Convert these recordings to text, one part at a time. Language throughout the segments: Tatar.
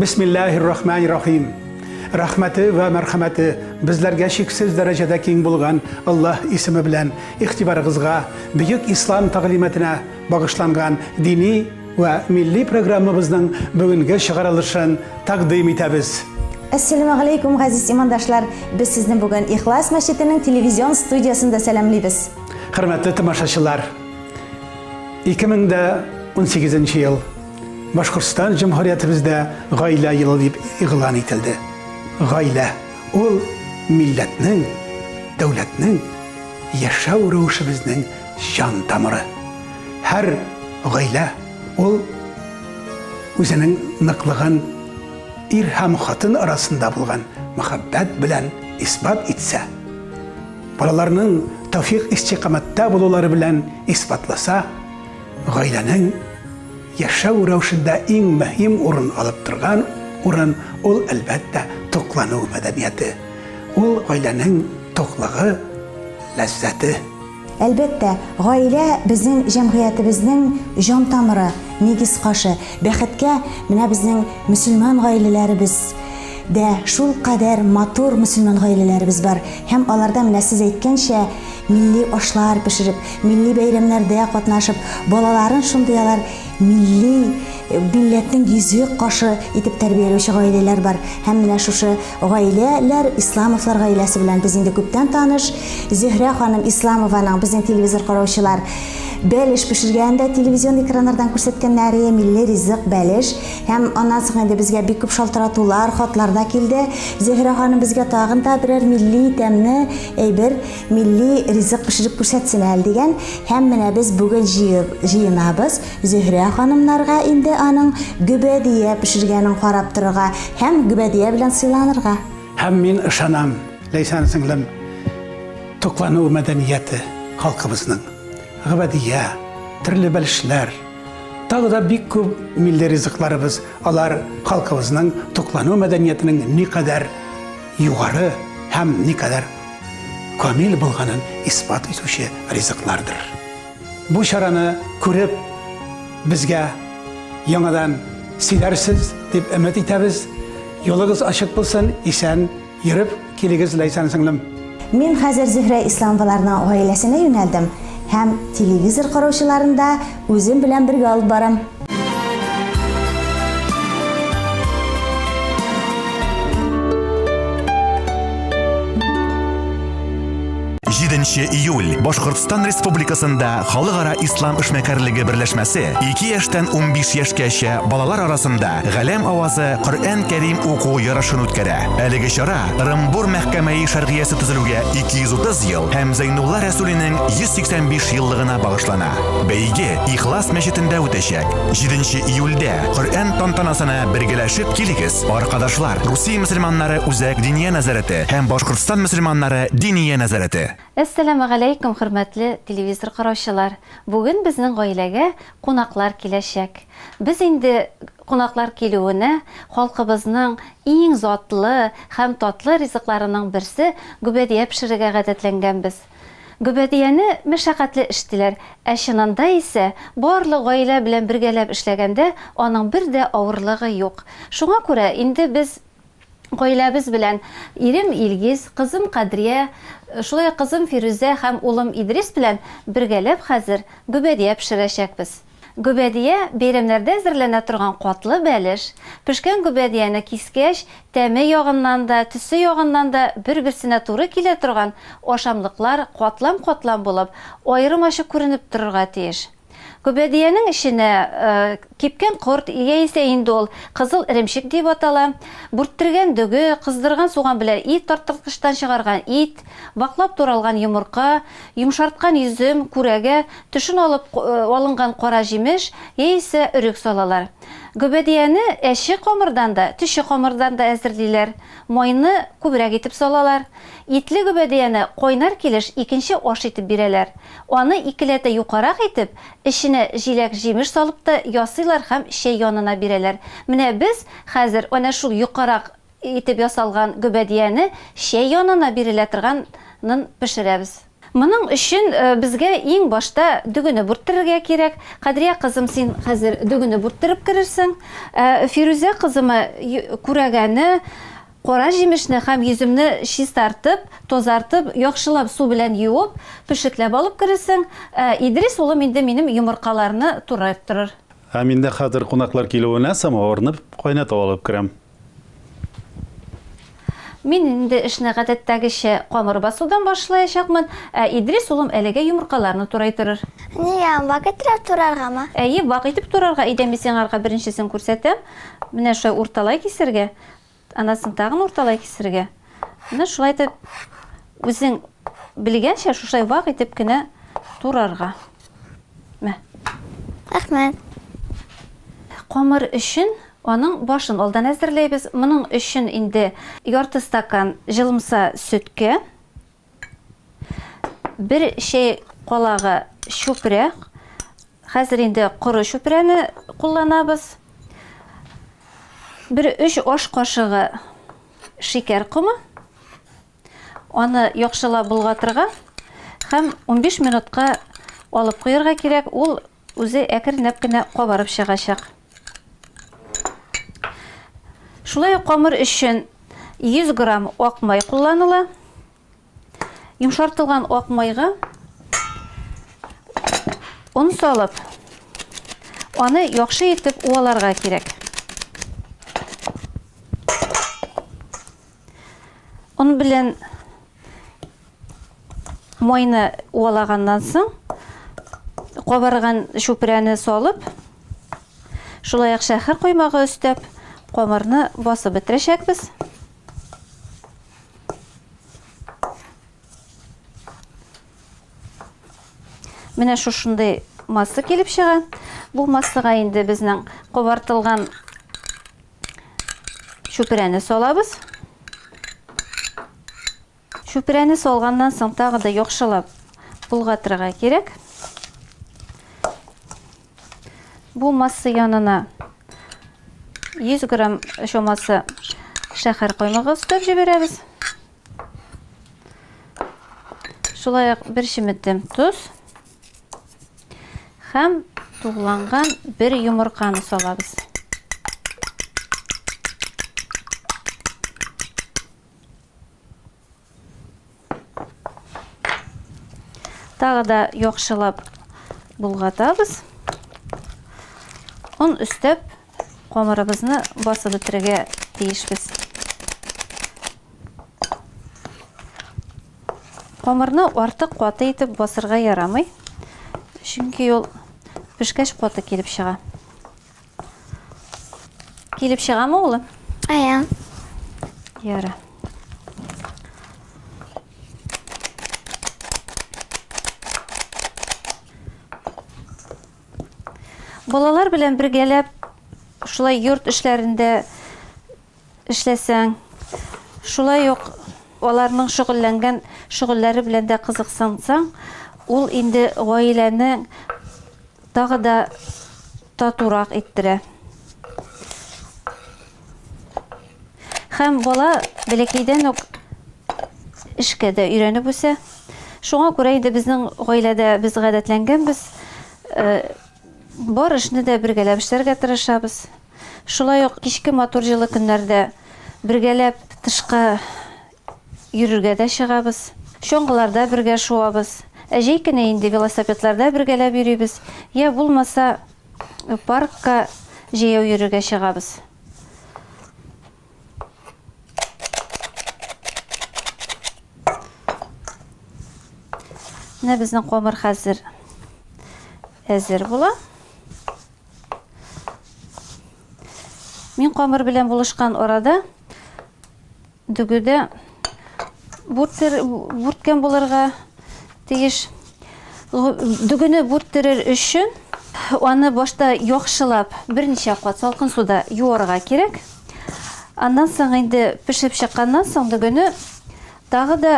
Бисмиллаһир-рахманир-рахим. Рәхмәте вә мәрхәмәте безләргә чиксез дәрәҗәдә киң булган Аллаһ исеме белән игътибарыгызга бөек ислам тәгълиматына багышланган дини вә милли программабызның бүгенге чыгарылышын тәкъдим итәбез. Әссәламәгаләйкүм, газиз имандашлар! Без сезне бүген Ихлас мәчетенең телевизион студиясендә сәламлибез. Хөрмәтле тамашачылар! 2018 нче ел. Башкортстан Җөмһүриятебездә гаилә елы дип игълан ителде. Гаилә ул милләтнең, дәүләтнең, яшәү рәвешебезнең җан тамыры. Һәр гаилә ул үзенең ныклыгын ир һәм хатын арасында булган мәхәббәт белән исбат итсә, балаларның тәүфик-истикамәттә булулары белән исбатласа, Гаиләнең яшәү рәвешендә иң мөһим урын алып торган урын ул, әлбәттә, туклану мәдәнияте. Ул, гаиләнең туклыгы, ләззәте. Әлбәттә, гаилә, безнең җәмгыятебезнең җан тамыры, нигез кашы. Бәхеткә, менә безнең мөселман гаиләләребез, дә шул кадәр матур мөселман гаиләләребез бар һәм аларда менә сез әйткәнчә милли ашлар пешереп, милли бәйрәмнәрдә катнашып, балаларын шундый алар милли милләтнең йөзек кашы итеп тәрбияләүче гаиләләр бар. Һәм менә шушы гаиләләр Исламовлар гаиләсе белән без инде күптән таныш. Зөһрә ханым Исламованың безнең телевизор караучылар бәлеш пешергәнен дә телевизион экраннардан күрсәткәннәре, милли ризык бәлеш. Һәм аннан соң инде безгә бик күп шалтыратулар, хатлар да килде. Зөһрә ханым безгә тагын да берәр милли тәмне әйбер, милли ризык пешереп күрсәтсен әле дигән. Һәм менә без бүген җыенабыз Зөһрә ханымнарга инде аның гөбәдия пешергәнен карап торырга һәм гөбәдия белән сыйланырга. Һәм мин ышанам, Ләйсән сеңлем, туклану мәдәнияте халкыбызның. Гөбәдия, төрле бәлешләр, Тагы да бик күп милли ризыкларыбыз, алар халкыбызның туклану мәдәниятының никадәр югары һәм никадәр камил булганын исбат итүче ризыклардыр. Бу чараны күреп, безгә яңадан сөйләрсез дип өмет итәбез. Юлыгыз ачык булсын, исән Йөреп килегез, Ләйсән сеңлем! Мин хәзер Зөһрә Исламоваларның гаиләсенә юнәлдем һәм телевизор караучыларын да үзем белән бергә алып барам. 7 июль Башкортстан Республикасында Халыкара ислам эшмәкәрлеге берләшмәсе 2 яшьтән 15 яшькәчә балалар арасында Галәм авазы Коръән Кәрим уку ярышын үткәрә. Әлеге чара Рымбур мәхкәмәи шәргиясе төзелүгә 230 ел һәм Зәйнулла Рәсүлинең 185 еллыгына багышлана. Бәйге Ихлас мәчетендә үтәчәк. 7 июльдә Коръән тантанасына бергәләшеп килегез, аркадашлар. Русия мөселманнары үзәк диния нәзарәте һәм Башкортстан мөселманнары Диния нәзарәте. Әссәламү галәйкүм, хөрмәтле телевизор караучылар! Бүген безнең гаиләгә кунаклар киләчәк. Без инде кунаклар килүенә халкыбызның иң затлы һәм татлы ризыкларының берсе гөбәдия пешерергә гадәтләнгәнбез. Гөбәдияне мәшәкатьле эштиләр, ә чынында исә барлык гаилә белән бергәләп эшләгәндә аның бер дә авырлыгы юк. Шуңа күрә инде без. гаиләбез белән, ирем Илгиз, кызым Кадрия, шулай ук кызым Фирүзә һәм улым Идрис белән бергәләп хәзер гөбәдия пешерәчәкбез. Гөбәдия, бәйрәмнәрдә әзерләнә торган катлы бәлеш. Пешкән гөбәдияне кискәч, тәме ягыннан да, төсе ягыннан да бер-берсенә туры килә торган ашамлыклар катлам-катлам булып, аерым ачык күренеп торырга тиеш. Күбәдиянең эченә кипкән корт, яисә инде ул кызыл эремчек диеп атала, бүрттергән дөге, кыздырган суган белән ит тарттырткычтан чыгарган ит, ваклап туралган йомырка, йомшарткан йөзем, күрәгә, төшен алып алынган кара җимеш яисә өрек салалар. Гөбәдияне әче камырдан да, төче камырдан да әзерлиләр. Майны күбрәк итеп салалар. Итле гөбәдияне кайнар килеш икенче аш итеп бирәләр. Аны икеләтә юкарак итеп, эченә җиләк-җимеш салып та ясыйлар һәм чәй янына бирәләр. Менә без хәзер әнә шул юкарак итеп ясалган гөбәдияне чәй янына бирелә торганын пешерәбез. Моның өчен безгә иң башта дөгене бүрттерергә кирәк. Кадрия кызым, син хәзер дөгене бүрттереп керерсең. Ә Фирүзә кызыма күрәгәне, Кара җимешне һәм йөземне чистартып, тазартып, яхшылап су белән юып, пешекләп алып керерсең, ә Идрис улым инде минем йомыркаларны турайттырыр. Ә мин дә хәзер кунаклар килүенә самавырны кайнатып алып керәм. Мин инде эшне гадәттәгечә камыр басудан башлаячакмын, ә Идрис улым әлегә йомыркаларны турайтырыр. Нигә, вак иттереп тураргамы? Әйе, вак итеп турарга, әйдә мин сиңарга беренчесен күрсәтәм. Менә шулай урталай кисәргә. Аннан соң тагын урталай кисергә. Менә шулай итеп, үзең белгәнчә шушай вак итеп кенә турарга. Мә. Рәхмәт. Камыр өчен аның башын алдан әзерләйбез. Моның өчен инде ярты стакан җылымса сөткә. Бер чәй калага чүпрә. Хәзер инде коры чүпрәне кулланабыз. Бер өч аш кашыгы шикәр комы. Аны яхшылап болгатырга һәм 15 минутка алып куярга кирәк. Ул Үзе әкренләп кенә кабарып чыгачак. Шулай ук камыр өчен 100 грамм ак май кулланыла. Йомшартылган ак майга он салып, аны яхшы итеп уаларга кирәк. Он белән майны уалаганнан соң кабарган чүпрәне салып, шулай ук шәһәр коймагы өстәп, камырны басып бетерәчәкбез. Менә шушындый масса килеп чыга. Бу массага инде безнең кабартылган чүпрәне салабыз. Чүпрәне салганнан соң тагы да яхшылап болгатырга кирәк. Бу масса янына 100 грамм чамасы шәхәр коймагы өстәп җибәрәбез. Шулай ук бер чеметем тоз. Хәм тугланган бер йомырканы салабыз. Тағы да яхшылап булгатабыз. Он өстәп камырыбызны басып бетерергә тиешбез. Камырны артык каты итеп басырга ярамый, чөнки ул пешкәч каты килеп чыга. Килеп чыгамы улым? Ая. Яра. Балалар белән бергәләп шулай йорт эшләрендә эшләсәң, шулай ук аларның шөгыльләнгән шөгыльләре белән дә кызыксынсаң, ул инде гаиләне тагы да татурак иттерә. Һәм бала бәләкәйдән үк эшкә дә өйрәнеп үсә. Шуңа күрә инде безнең гаиләдә без гадәтләнгәнбез, э, бар эшне дә бергәләп эшләргә тырышабыз. Шулай ук кичке матур җылы көннәрдә бергәләп тышка йөрергә дә чыгабыз. Чоңгыларда бергә шуабыз. Ә җәй көне инде велосипедларда бергәләп йөрибез, йә булмаса паркка җәяү йөрергә чыгабыз. Менә безнең камыр хәзер әзер була. Мин камыр белән булышкан арада дүгедә бүрткән булырга тиеш. Дүгене бүрттерер өчен аны башта яхшылап берничә кат салкын суда юарга кирәк. Аннан соң инде пешеп чыкканнан соң дүгене Тагы да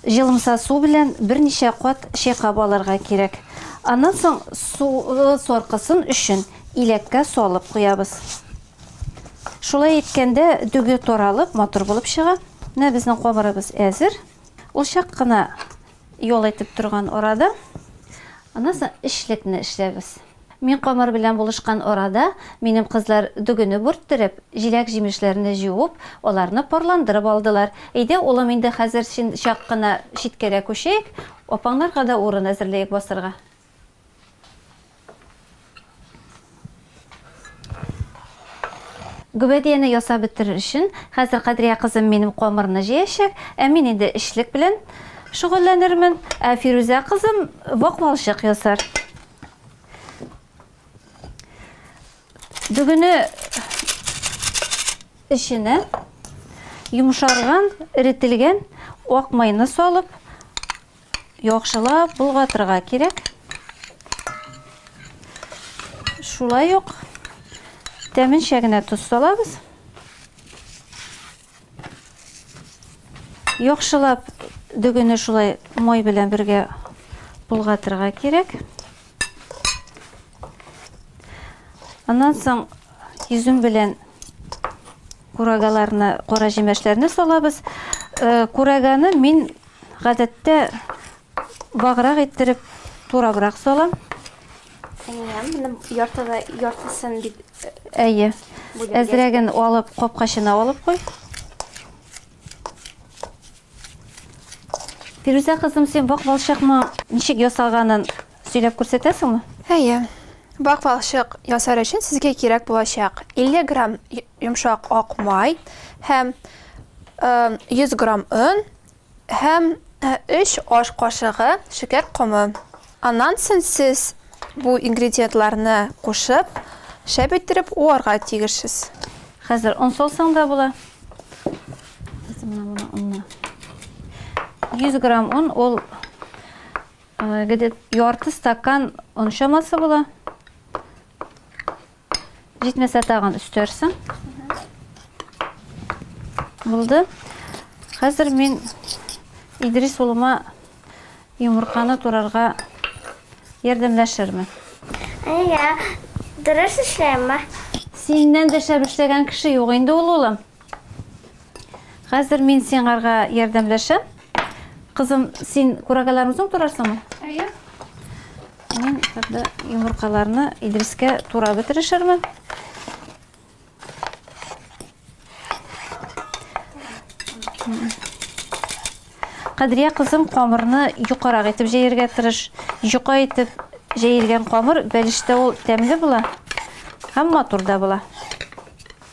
җылымса су белән берничә кат чайкап алырга кирәк. Аннан соң суы саркысын өчен иләккә салып куябыз. Шулай иткәндә дөге таралып, матур булып чыга. Менә безнең камырыбыз әзер. Ул чак кына Ял итеп торган арада, аннан соң эшлекне эшләбез. Мин Камыр белән булышкан арада, минем кызлар дөгене бүрттереп, җиләк-җимешләрне җуып, аларны парландырып алдылар. Әйдә, улым, инде хәзер чын чак кына читкәрәк күчәек, апаңнарга да урын әзерләек басырга. Гөбәдияне ясап бетерер өчен, хәзер Кадрия кызым минем камырны җыячак, ә мин инде эчлек белән шөгыльләнермен, ә Фирүзә кызым вак балчык ясар. Бүгене эченә йомшарган, эретелгән ак майны салып, Яхшылап болгатырга кирәк. Шулай ук тәменчә генә тоз салабыз. Яхшылап дөгене шулай май белән бергә болгатырга кирәк. Аннан соң изүм белән курагаларны, кара җимәшләрне салабыз. Э, Кураганы мин Гадәттә баграк иттереп турабрак салам. Әйе, менә яртыда яртысын бит. Әйе. Әзрәген алып капкачына алып куй. Фирүзә кызым, син бакмалчыкмы ничек ясаганын Сөйләп күрсәтәсеңме? Әйе. Бак балчык ясар өчен сезгә кирәк булачак 50 грамм йомшак ак май һәм 100 грамм он һәм 3 аш кашыгы шикәр комы. Аннан соң сез бу ингредиентларны кушып, шәп иттереп уарга тиешсез. Хәзер он салсаң да була. Хәзер менә моны онны. 100 грамм он ул Где ярты стакан он чамасы була. Җитмәсә тагын өстәрсең. Булды. Хәзер мин Идрис улыма йомырканы турарга ярдәмләшермен. Әйе, дөрес эшләйме? Синнән дә шәп эшләгән кеше юк инде ул, улым. Хәзер мин сиңарга ярдәмләшәм. Кызым, син курагаларны үзең турарсыңмы? Әйе. Мин хәтта йомыркаларны Идрискә тура бетерешермен. Кадрия кызым камырны юкарак итеп җәергә тырыш. Юка итеп җәелгән камыр бәлештә ул тәмле була һәм матур да була.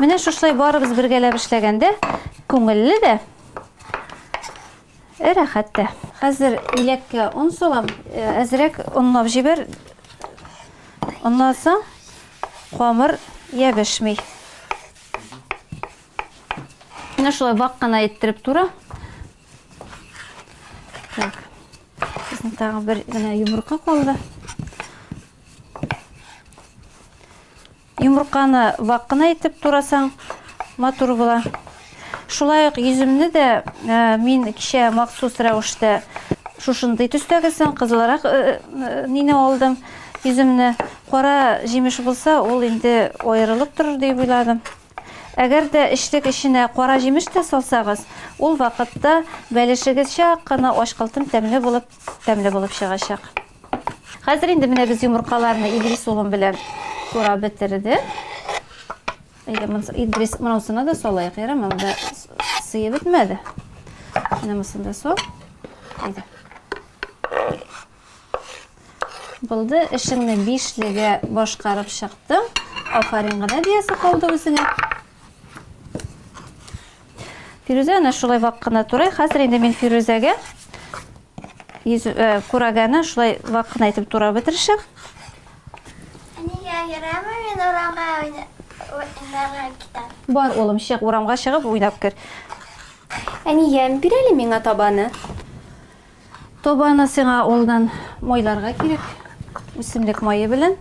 Менә шушылай барыбыз бергәләп эшләгәндә күңелле дә, э, рәхәт тә. Хәзер иләккә он салам, э, әзрәк онлап җибәр. Оннан соң камыр ябешми. Менә шулай вак кына иттереп тура. Так. Безнең тагын бер генә йомырка калды. Йомырканы вак кына итеп турасаң, матур була. Шулай ук йөземне дә э, мин кичә махсус рәвештә шушындый төстәгесен кызылрак э, э, нине алдым йөземне кара җимеш булса ул инде аерылып торыр дип уйладым әгәр дә эчлек эченә кара җимеш тә салсагыз ул вакытта бәлешегез чак кына ачкылтым тәмле булып тәмле булып чыгачак Хәзер инде менә без йомыркаларны Идрис улым белән турап бетердек. Әйдә, Идрис, монысына да салайык, ярама, монда сыйы бетмәде. Менә монысын да сал. Әйдә. Булды, эшеңне бишлегә башкарып чыктың. Афарин гына диясе калды үзеңә. Фирүзә ана шулай вак кына турай. Хәзер инде мин Фирүзәгә Йөз э, күрәгәне шулай вак кына итеп турап бетеришек. Нигә йөрәме мин урамга уйнарга китәм? Бар, улым, чык, урамга чыгып уйнап кер. Әнием, бир әле миңа табаны. Табаны сиңа улдан майларга кирәк. Үсемлек мае белән.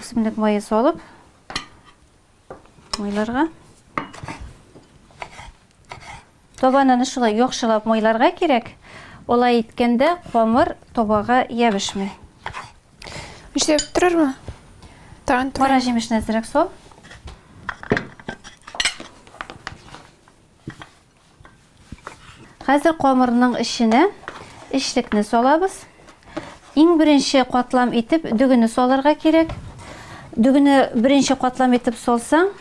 Үсемлек мае салып, Майларга. Табанын шулай яхшылап майларга кирәк. Олай иткәндә камыр табага ябышмый. Үчләп торырмы? Тагын Кара җимешне әзрәк сал. Хәзер камырның эченә эчлекне салабыз. Иң беренче катлам итеп дөгене салырга кирәк. Дөгене беренче катлам итеп салсаң,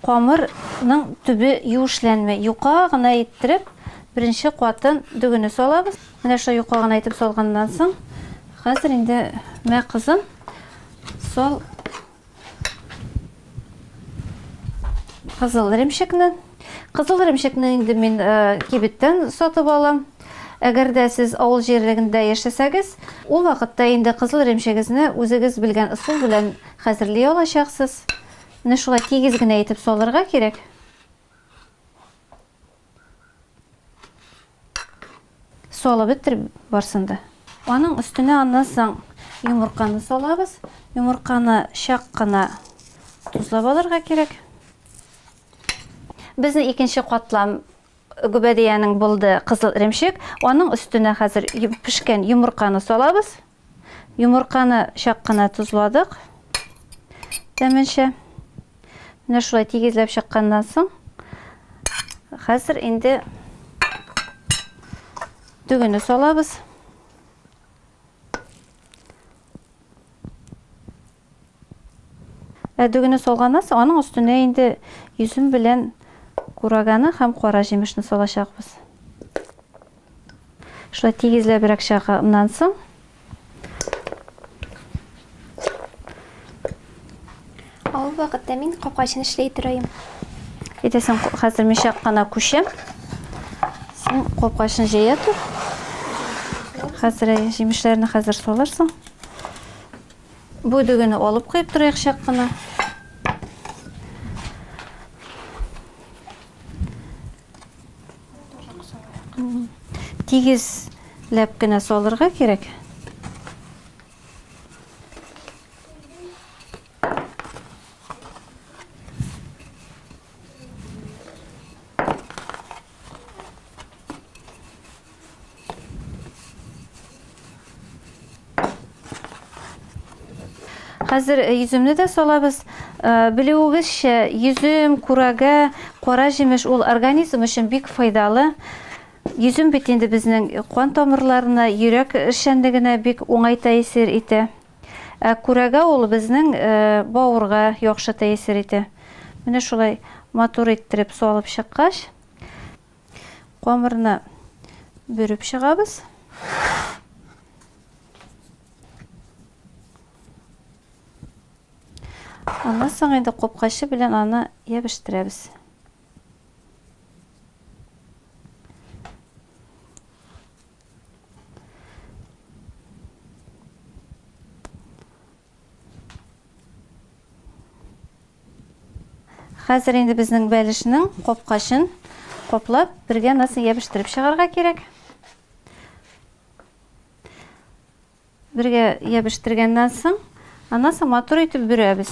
камырның төбе юешләнмәй. Юка гына иттереп, беренче катын дөгене салабыз. Менә шулай юка гына итеп салганнан соң, хәзер инде мә кызым, сал Кызыл ремшекне. Кызыл ремшекне инде мин э, кибеттән сатып алам. Әгәр дә сез авыл җирлегендә яшәсәгез, ул вакытта инде кызыл ремшегезне үзегез белгән ысул белән хәзерли алачаксыз. Менә шулай тигез генә итеп салырга кирәк. Салып беттер барсын да. Аның өстенә аннан соң йомырканы салабыз. Йомырканы чак кына тузлап алырга кирәк. Безнең икенче катлам гөбәдиянең булды кызыл эремчек. Аның өстенә хәзер пешкән йомырканы салабыз. Йомырканы чак кына тозладык. Тәменчә. Менә шулай тигезләп чакканнан соң, хәзер инде дөгене салабыз. Ә дөгене салганнан соң, аның өстенә инде йөзем белән кураганы һәм кара җимешне салачакбыз. Шулай тигезләбрәк чага. Аннан соң Ул вакытта мин капкачын эшли торыйм. Әйтәсең, хәзер мин чак кына күчәм. Син капкачын җәя тор. Хәзер җимешләрне хәзер салырсың. Бу дөгене алып куеп торыйк чак кына. Тигез ләп кенә салырга кирәк. Хәзер э, йөземне дә салабыз. Э, Белүегезчә, йөзем, курага, кара җимеш ул организм өчен бик файдалы. Йөзем бит инде безнең кан тамырларына, йөрәк эшчәнлегенә бик уңай тәэсир итә. Ә курага ул безнең э, бавырга яхшы тәэсир итә. Менә шулай матур иттереп салып чыккач, Камырны бөреп чыгабыз. Аннан соң инде копкачы белән аны ябештирәбез. Хәзер инде безнең бәлешнең капкачын каплап, бергә носын ябештырып чыгарга кирәк. Бергә ябештергәннән соң, аннан соң матур итеп бөрәбез.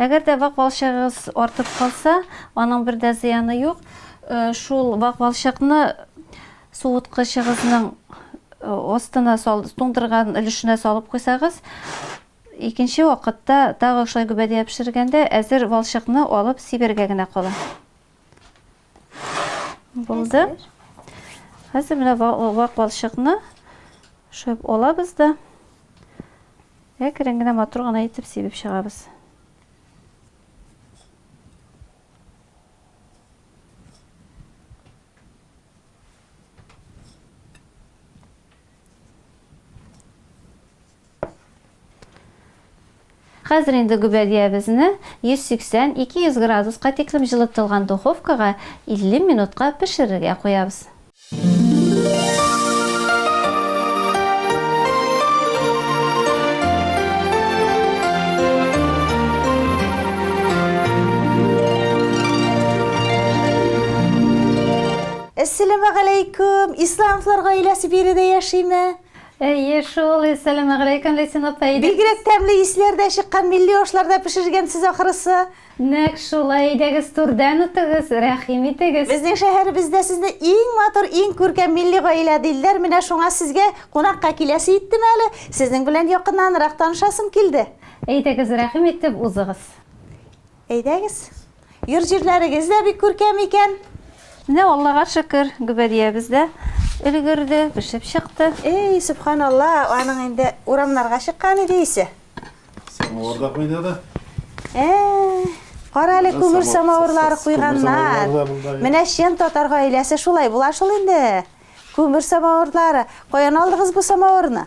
Әгәр дә вак балчыгыгыз артып калса, аның бер дә зыяны юк. Шул вак балчыкны суыткычыгызның астына сал, туңдырган өлешенә салып куйсагыз, икенче вакытта тагы шулай гөбәдия пешергәндә әзер балчыкны алып сибәргә генә кала. Булды. Хәзер менә вак балчыкны шөп алабыз да әкрен генә матур гына итеп сибеп чыгабыз. Хәзер инде гөбәдиябезне 180-200 градуска тиклем җылытылган духовкага 50 минутка пешерергә куябыз. Әссәләмәгаләйкүм! Исләмовлар гаиләсе биредә яшиме? Әйе шул, Әссәламәгаләйкем, Ләйсән апа, әйдә. Бигрәк тәмле исләр дә чыккан, милли ашларда пешергәнсез ахрысы. Нәкъ шулай, әйдәгез түрдән үтегез, рәхим итегез. Безнең шәһәребездә сезне иң матур, иң күркәм милли гаилә дилдәр, менә шуңа сезгә кунакка киләсе иттем әле, сезнең белән якыннанрак танышасым килде. Әйдәгез, рәхим итеп узыгыз. Әйдәгез. Йорт-җирләрегез дә бик күркәм икән. Менә Аллага шөкер, гөбәдиябез дә өлгерде, пешеп чыкты. Эй, сөбханалла, аның инде урамнарга чыккан иде исе. Самавыр да кайнады. Ә, кара әле күмер самавырлары куйганнар. Менә чын татар гаиләсе шулай була шул инде. Күмер самавырлары. Каян алдыгыз бу самавырны?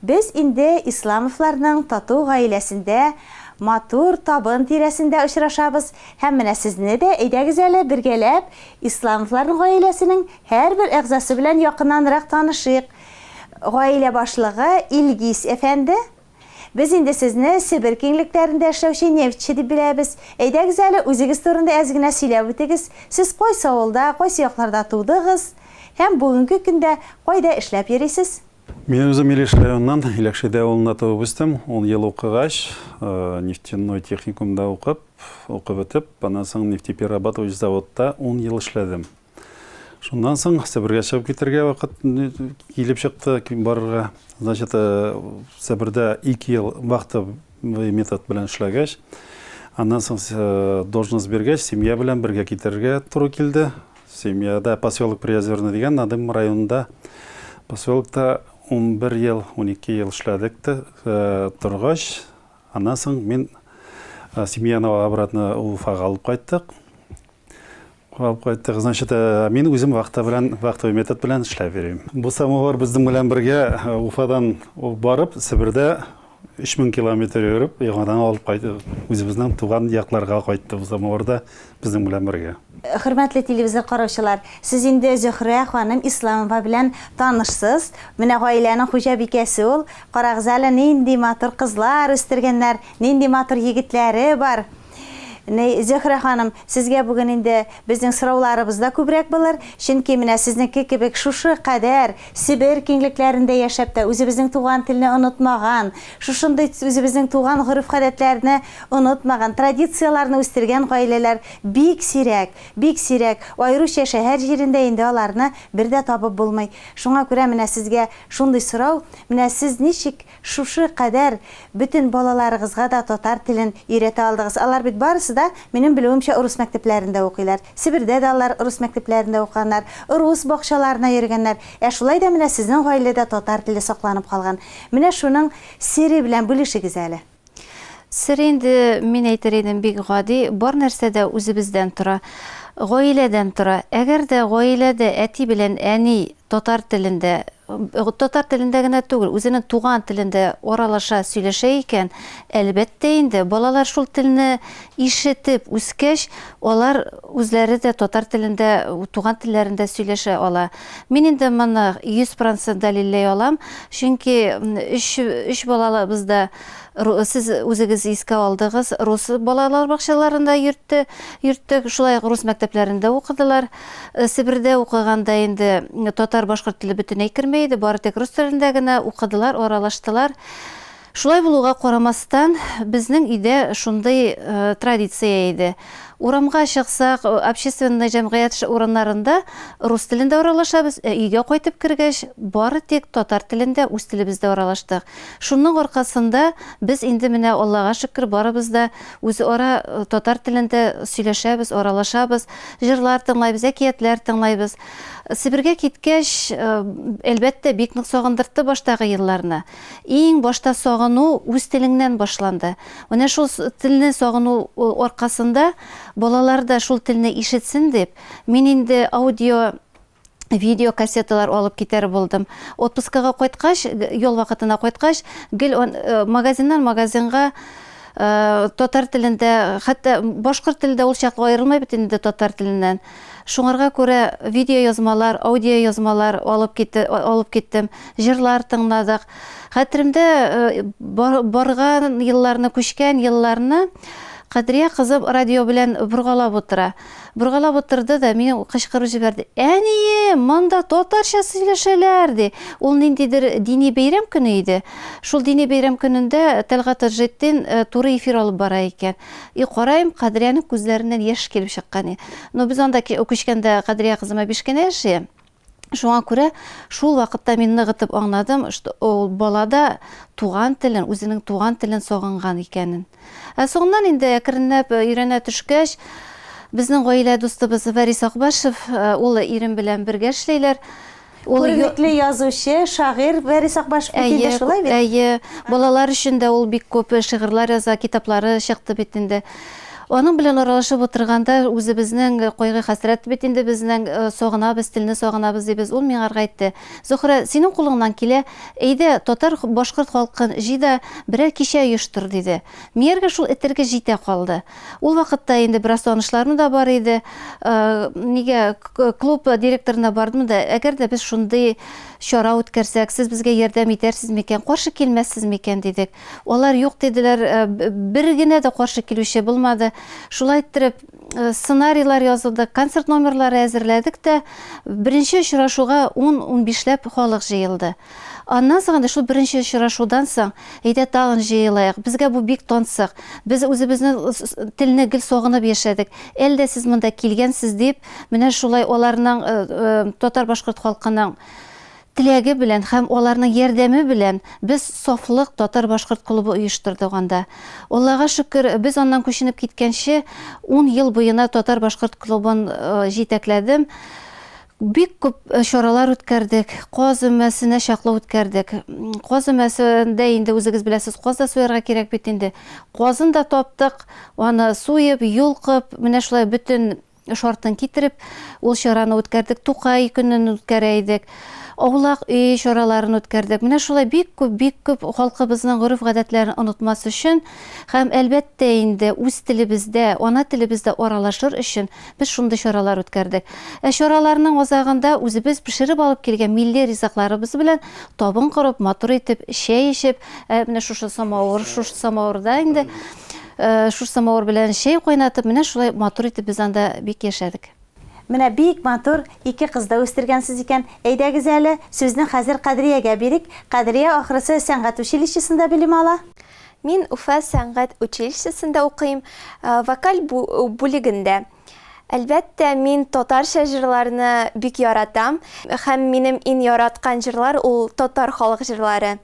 Без инде Исламовларның тату гаиләсендә, матур табын тирәсендә очрашабыз һәм менә сезне дә, әйдәгез әле, бергәләп Исламовларның гаиләсенең һәрбер әгъзасы белән якыннанрак танышыйк. Гаилә башлыгы Илгиз әфәнде, без инде сезне Себер киңлекләрендә эшләүче нефтьче дип беләбез. Әйдәгез әле, үзегез турында әз генә сөйләп үтегез, сез кайсы авылда, кайсы якларда тудыгыз һәм бүгенге көндә кайда эшләп йөрисез? Мин үзем Илеш районыннан, Иләкшәдә авылында туып үстем. Ун ел укыгач, нефтяной техникумда укып, укып бетеп, аннан соң нефтеперерабатывающий заводта ун ел эшләдем. Шуннан соң Себергә чыгып китергә вакыт килеп чыкты барырга. Значит, Себердә ике ел вахта метод белән эшләгәч, аннан соң должность биргәч, семья белән бергә китерергә туры килде. Семьяда поселок Приозерный дигән Надым районында поселокта унбер ел, унике ел эшләдек тә э, торгач, аннан соң мин э, семьяны обратно Уфага алып кайттык. Алып кайттык, значит, э, мин үзем вахта белән, вахтовый метод белән эшләп йөрим. Бу самовар безнең белән бергә Уфадан барып, Себердә Өч мең километр йөреп, яңадан алып кайтып, үзебезнең туган якларга кайттым, Самавырда безнең белән бергә. Хөрмәтле телевизор караучылар, сез инде Зөһрә ханым Исламова белән танышсыз. Менә гаиләнең хуҗабикәсе ул. Карагыз әле, нинди матур кызлар үстергәннәр, нинди матур егетләре бар. Зөһрә ханым, сезгә бүген инде безнең сорауларыбыз да күбрәк булыр, чөнки менә сезнеке кебек шушы кадәр Себер киңлекләрендә яшәп тә, үзебезнең туган телне онытмаган, шушындый үзебезнең туган гореф-гадәтләрне онытмаган, традицияләрне үстергән гаиләләр бик сирәк, бик сирәк, аеруча шәһәр җирендә инде аларны бер дә табып булмый. Шуңа күрә менә сезгә шундый сорау, менә сез ничек Шушы кадәр бөтен балаларыгызга да татар телен өйрәтә алдыгыз. Алар бит барысы да, минем белүемчә, урыс мәктәпләрендә укыйлар. Себердә дә алар урыс мәктәпләрендә укыганнар, рус бакчаларына йөргәннәр. Ә шулай да менә сезнең гаиләдә татар теле сакланып калган. Менә шуның сере белән бүлешегез әле. Сер инде, мин әйтер идем, бик гади, бар нәрсә дә үзебездән тора. Гаиләдән тора. Әгәр дә гаиләдә әти белән әни татар телендә Татар телендә генә түгел, үзенең туган телендә аралаша, сөйләшә икән, әлбәттә инде, балалар шул телне ишетеп үскәч, алар үзләре дә татар телендә, туган телләрендә сөйләшә ала. Мин инде моны 100% дәлилләй алам, чөнки өч, өч балалабыз да, сез үзегез искә алдыгыз, рус балалар бакчаларында йөртте, йөрттек, шулай ук рус мәктәпләрендә укыдылар. Себердә укыганда инде татар-башкорт теле бөтенләй керми иде, бары тик рус телендә генә укыдылар, аралаштылар. Шулай булуга карамастан, безнең өйдә шундый традиция иде. Урамга чыксак, общественный җәмгыять урыннарында рус телендә аралашабыз, ә өйгә кайтып кергәч, бары тик татар телендә, үз телебездә аралаштык. Шуның аркасында без инде менә, Аллага шөкер, барыбыз да Үзара татар телендә сөйләшәбез, аралашабыз, җырлар тыңлайбыз, әкиятләр тыңлайбыз. Себергә киткәч, әлбәттә, бик нык сагындыртты баштагы елларны. Иң башта сагыну үз телеңнән башланды. Менә шул телне сагыну аркасында, балалар да шул телне ишетсен дип, мин инде аудио видеокассеталар алып китәр булдым. Отпускага кайткач, ял вакытына кайткач, гел магазиннан магазинга татар телендә, хәтта башкорт теле дә ул чакта аерылмый бит инде татар теленнән. Шуңарга күрә видеоязмалар, аудиоязмалар алып китте, алып киттем, җырлар тыңладык. Хәтеремдә барган елларны, күчкән елларны Кадрия кызым радио белән боргалап утыра. боргалап утырды да мине кычкырып җибәрде. Әнием, монда татарча сөйләшәләр, ди. Ул ниндидер дини бәйрәм көне иде. Шул дини бәйрәм көнендә Тәлгать Таҗетдин туры эфир алып бара икән. И караем, Кадрияның күзләреннән яшь килеп чыккан. Но без анда күчкәндә Кадрия кызыма биш кенә яши. Шуңа күрә шул вакытта мин ныгытып аңладым, что ул балада туган телен, үзенең туган телен сагынган икәнен. Ә соңыннан инде әкренләп э, өйрәнә төшкәч, безнең гаилә дустыбыз Вәрис Акбашев, э, ул ирем белән бергә эшләйләр. Ул күренекле язучы, шагыйрь Вәрис Акбашев бит инде шулай бит. Әйе, балалар өчен дә ул бик күп шигырьләр яза, китаплары чыкты бит инде. Аның белән аралашып утырганда, үзебезнең кайгы-хәсрәт бит инде безнең, сагынабыз, телне сагынабыз, дибез. Ул миңа әйтте, Зөһрә, синең кулыңнан килә, әйдә, татар, башкорт халкын җый да, берәр кичә оештыр, диде. Мияргә шул этәргеч җитә калды. Ул вакытта инде бераз танышларым да бар иде. Нигә, клуб директорына бардым да, әгәр дә без шундый чара үткәрсәк, сез безгә ярдәм итәрсез микән, каршы килмәссез микән, дидек. Алар юк диделәр, бер генә дә каршы килүче булмады. Шулай иттереп, сценарийлар язылды, концерт номерлары әзерләдек тә, беренче очрашуга ун-унбишләп халык җыелды. Аннан соң инде шул беренче очрашудан соң, әйдә тагын җыелыйк, безгә бу бик тансык, без үзебезнең телне гел сагынып яшәдек, әле дә сез монда килгәнсез, дип, менә шулай аларның, татар-башкорт халкының Теләге белән һәм аларның ярдәме белән без Сафлык татар-башкорт клубы оештырдык анда. Аллага шөкер, без аннан күченеп киткәнче ун ел буена татар-башкорт клубын җитәкләдем. Бик күп чаралар үткәрдек, каз өмәсенә чаклы үткәрдек. Каз өмәсендә инде үзегез беләсез, каз да суярга кирәк бит инде. Казын да таптык, аны суеп, йолкып, менә шулай бөтен Эш артын китереп, ул чараны үткәрдек, Тукай көнен үткәрә идек. Аулак өй чараларын үткәрдек. Менә шулай бик күп, бик күп халкыбызның гореф-гадәтләрен онытмас өчен һәм, әлбәттә инде, үз телебездә, ана телебездә аралашыр өчен без шундый чаралар үткәрдек. Ә чараларның азагында үзебез пешереп алып килгән милли ризыкларыбыз белән табын корып, матур итеп чәй эчеп, ә менә шушы самавыр, шушы самавырда инде Шушы самавыр белән чәй кайнатып, менә шулай матур итеп без анда бик яшәдек. Менә бик матур ике кыз да үстергәнсез икән. Әйдәгез әле, сүзне хәзер Кадриягә бирик. Кадрия, ахрысы, сәнгать училищесында белем ала? Мин Уфа сәнгать училищесында укыйм, вокаль бүлегендә. Әлбәттә, мин татарча җырларны бик яратам. Һәм минем иң яраткан җырлар ул татар халык җырлары.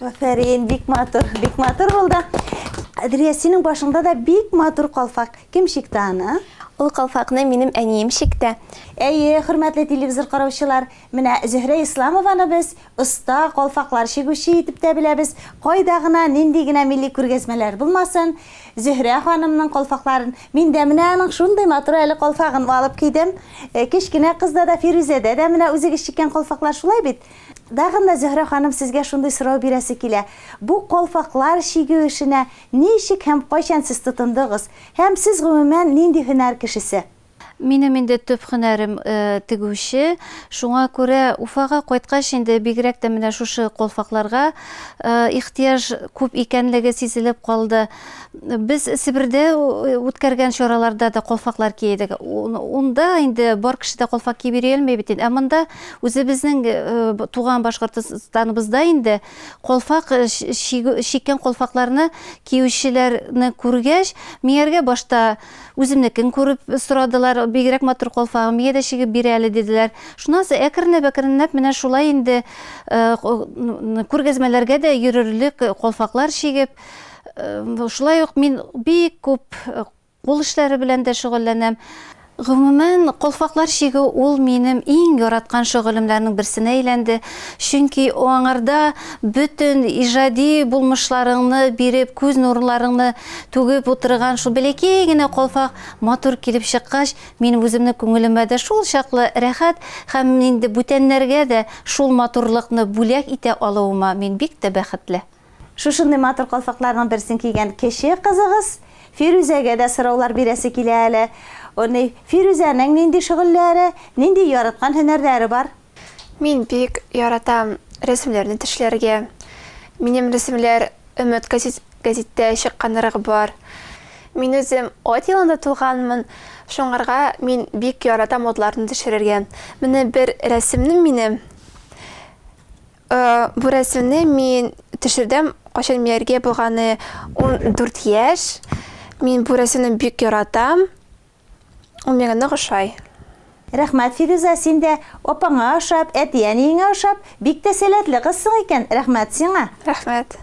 Афәрин, бик матур, бик матур булды. Әдрия, синең башыңда да бик матур калфак. Кем чикте аны? Ул калфакны минем әнием чикте. Әйе, хөрмәтле телевизор караучылар, менә Зөһрә Исламованы без оста калфаклар чигүче итеп тә беләбез. Кайда гына, нинди генә милли күргәзмәләр булмасын, Зөһрә ханымның калфакларын, мин дә менә аның шундый матур әле калфагын алып кидем. Кечкенә кызда да, Фирүзәдә дә менә үзегез чиккән калфаклар шулай бит? Тагын да, Зөһрә ханым, сезгә шундый сорау бирәсе килә, бу калфаклар чигү эшенә ничек һәм кайчан сез тотындыгыз? Һәм сез, гомумән, нинди һөнәр кешесе? Минем инде төп һөнәрем, тегүче. Шуңа күрә Уфага кайткач инде бигрәк тә менә шушы калфакларга ихтыяҗ күп икәнлеге сизелеп калды. Без Себердә үткәргән чараларда да колфаклар киедек. Унда инде бар кеше дә колфак киеп йөри алмый бит инде. Ә монда үзебезнең э, туган Башкортстаныбызда инде колфак э, шиккән колфакларны киючеләрне күргәч, мияргә башта үземнекен күреп сорадылар, бигрәк матур колфагы, мия дә чигеп бир әле диделәр. Шуннан соң әкренләп әкренләп менә шулай инде э, күргәзмәләргә дә йөрерлек колфаклар шигеп Шулай ук мин бик күп кул эшләре белән дә шөгыльләнәм. Гомумән, калфаклар чигү ул минем иң яраткан шөгылемләрнең берсенә әйләнде, чөнки аңарда бөтен иҗади булмышларыңны биреп, күз нурларыңны түгеп утырган шул бәләкәй генә калфак матур килеп чыккач, минем үземнең күңелемә дә шул чаклы рәхәт һәм инде бүтәннәргә дә шул матурлыкны бүләк итә алуыма мин бик тә бәхетле. Шушындый матур калфакларның берсен кигән кече кызыгыз Фирүзәгә дә сораулар бирәсе килә әле. Уни, Фирүзәнең нинди шөгыльләре, нинди яраткан һөнәрләре бар? Мин бик яратам рәсемнәрне тешләргә. Минем рәсемләр Өмет газет, гәзиттә чыкканрыгы бар. Мин үзем ат елында тулганмын, шуңарга мин бик яратам атларны төшерергә. Менә бер рәсемнем минем Бу рәсемне мин төшердем, кайчан Мияргә булганы 14 яшь. Мин бу рәсемне бик яратам. Ул миңа нык ошай. Рәхмәт, Фирүзә, син дә апаңа ошап, әти-әниеңә ошап, бик тә сәләтле кызсың икән, рәхмәт сиңа! Рәхмәт.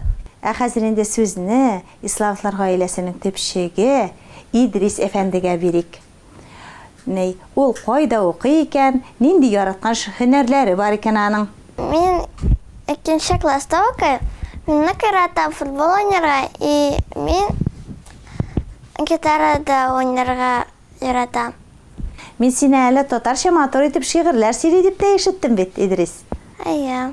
Ә хәзер инде сүзне Иславовлар гаиләсенең төпчеге Идрис әфәндегә бирик. Ни, ул кайда укый икән, нинди яраткан һөнәрләре бар икән аның? Мин икенче класста укыйм. Мин нык яратам футбол уйнарга и мин гитарада уйнарга яратам. Мин сине әле татарча матур итеп шигырьләр сөйли дип тә ишеттем бит, Идрис. Әйе.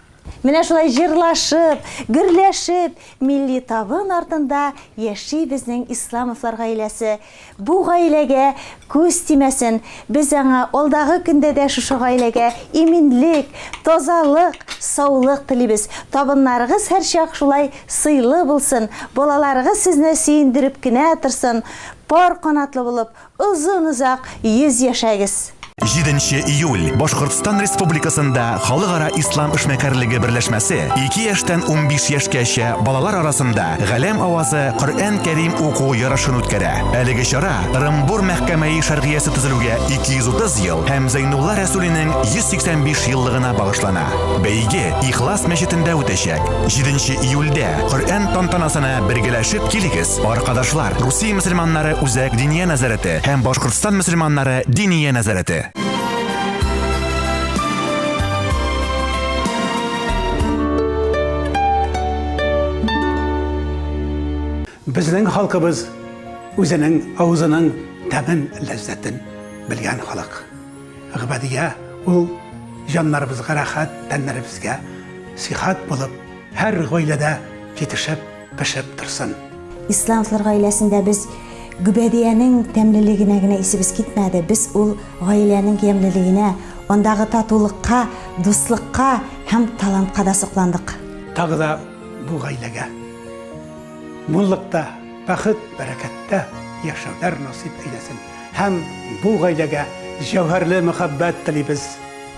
Менә шулай җырлашып, гөрләшеп, милли табын артында яши безнең Исламовлар гаиләсе. Бу гаиләгә күз тимәсен, без аңа алдагы көндә дә шушы гаиләгә иминлек, тазалык, саулык телибез. Табыннарыгыз һәрчак шулай сыйлы булсын, балаларыгыз сезне сөендереп кенә торсын, пар канатлы булып, Озын озак йөз яшәгез! Җиденче июль, Башкортстан Республикасында Халыкара Ислам эшмәкәрлеге берләшмәсе ике яшьтән унбиш яшькәчә балалар арасында Галәм авазы Коръән Кәрим уку ярышын үткәрә. Әлеге чара Ырымбур мәхкәмәи шәргыясе төзелүгә 230 ел һәм Зәйнулла Рәсүлинең 185 еллыгына багышлана. Бәйге Ихлас мәчетендә үтәчәк. Җиденче июльдә Коръән тантанасына бергәләшеп килегез! Аркадашлар, Русия мөселманнары үзәк диния нәзарәте һәм Башкортстан мөселманнары диния нәзарәте. Безнең халкыбыз үзенең авызының тәмен ләззәтен белгән халык. Гыбадия ул җаннарыбызга рәхәт, тәннәребезгә сихәт булып, һәр гаиләдә җитешеп, пешеп торсын. Исландлар гаиләсендә без гөбәдиянең тәмлелегенә генә исебез китмәде, без ул гаиләнең ямьлелегенә, андагы татулыкка, дуслыкка һәм талантка да сокландык. Тагы да бу гаиләгә муллыкта, бәхет, бәрәкәттә яшәүләр насыйп әйләсен һәм бу гаиләгә җәүһәрле мәхәббәт телибез.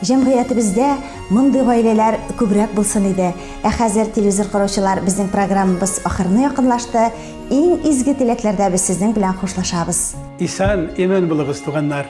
Җәмгыятебездә мондый гаиләләр күбрәк булсын иде. Ә хәзер, телевизор караучылар, безнең программабыз ахырына якынлашты. Иң изге теләкләрдә без сезнең белән хушлашабыз. Исән, имин булыгыз, туганнар!